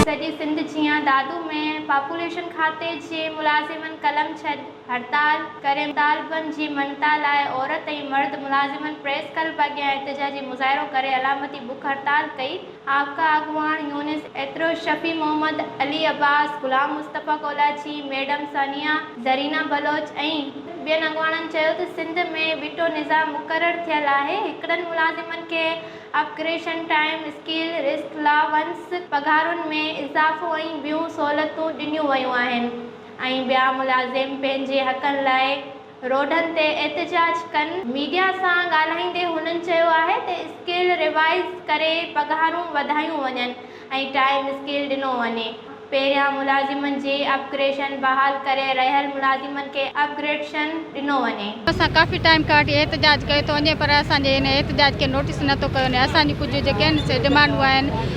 سڄي سنڌ جيان دادو ۾ پاپوليشن کاتي جي ملازمن قلم ڇڏ هڙتال ڪري مطالبن جي مڃتا لاء عورت ۽ مرد ملازمن پريس ڪلب اڳيان احتجاجي مظاهرو ڪري علامتي بک هڙتال ڪئي. آقا اڳواڻ يونس ايترو، شفيع محمد، علي عباس، غلام مصطفيٰ ڪولاچي، ميڊم ثانيه، زرينه بلوچ ۽ ٻين اڳواڻن چيو ته سنڌ ۾ ٻٽو نظام مقرر ٿيل آهي، هڪڙن ملازمن کي upgradation, time scale, rest allowance, پگهارن ۾ اضافو ۽ ٻيون سهولتون ڏنيون ويون آهن ۽ ٻيا ملازم پنهنجي حقن لاء روڊن تي احتجاج ڪن. ميڊيا سان ڳالهائيندي هنن چيو آهي ته اسڪيل ريوائيز ڪري پگهارون وڌايون وڃن ۽ ٽائيم اسڪيل ڏنو وڃي. پهريان ملازمن جي اپ گريشن بحال ڪري رهيل ملازمن کي اپ گريڊشن ڏنو وڃي. اسان ڪافي ٽائيم کان وٺي احتجاج ڪيو ٿو وڃي پر اسان جي هن احتجاج کي نوٽيس نه ٿو ڪيو وڃي. اسان جون ڪجهه جيڪي آهن سي ڊمانڊون آهن.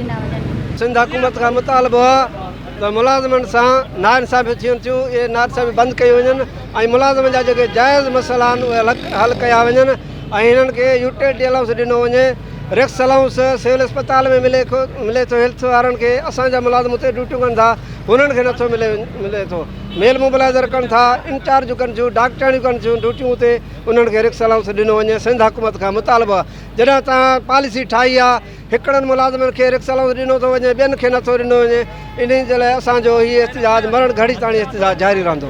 ڏنا وڃن. سنڌ حڪومت کان مطالبو آهي ته ملازمن سان ناانصافيون ٿين ٿيون اهي ناانصافيون بند ڪيون وڃن ۽ ملازمن جا جيڪي جائز مسئلا آهن اهي حل ڪيا وڃن ۽ هنن کي يوٽيلٽي الائونس ڏنو وڃي ريڪس الائونس سول اسپتال ۾ ملي ملي ٿو هيلٿ وارن کي اسان جا ملازم اتي ڊيوٽيون ڪن ٿا هنن کي نٿو ملي ملي ٿو ميل موبلائزر ڪن ٿا انچارجون ڪن ٿيون ڊاڪٽرياڻيون ڪن ٿيون ڊيوٽيون اتي انهن کي ريڪس الائونس ڏنو وڃي سنڌ حڪومت کان مطالبو آهي جڏهن تان پاليسي ٺاهي آهي هڪڙن ملازمن کي رڪس الاونس ڏنو ٿو وڃي ٻين کي نٿو ڏنو وڃي انهي جي لاء اسان جو هي احتجاج مرڻ گهڙي تاڻي احتجاج جاري رهندو.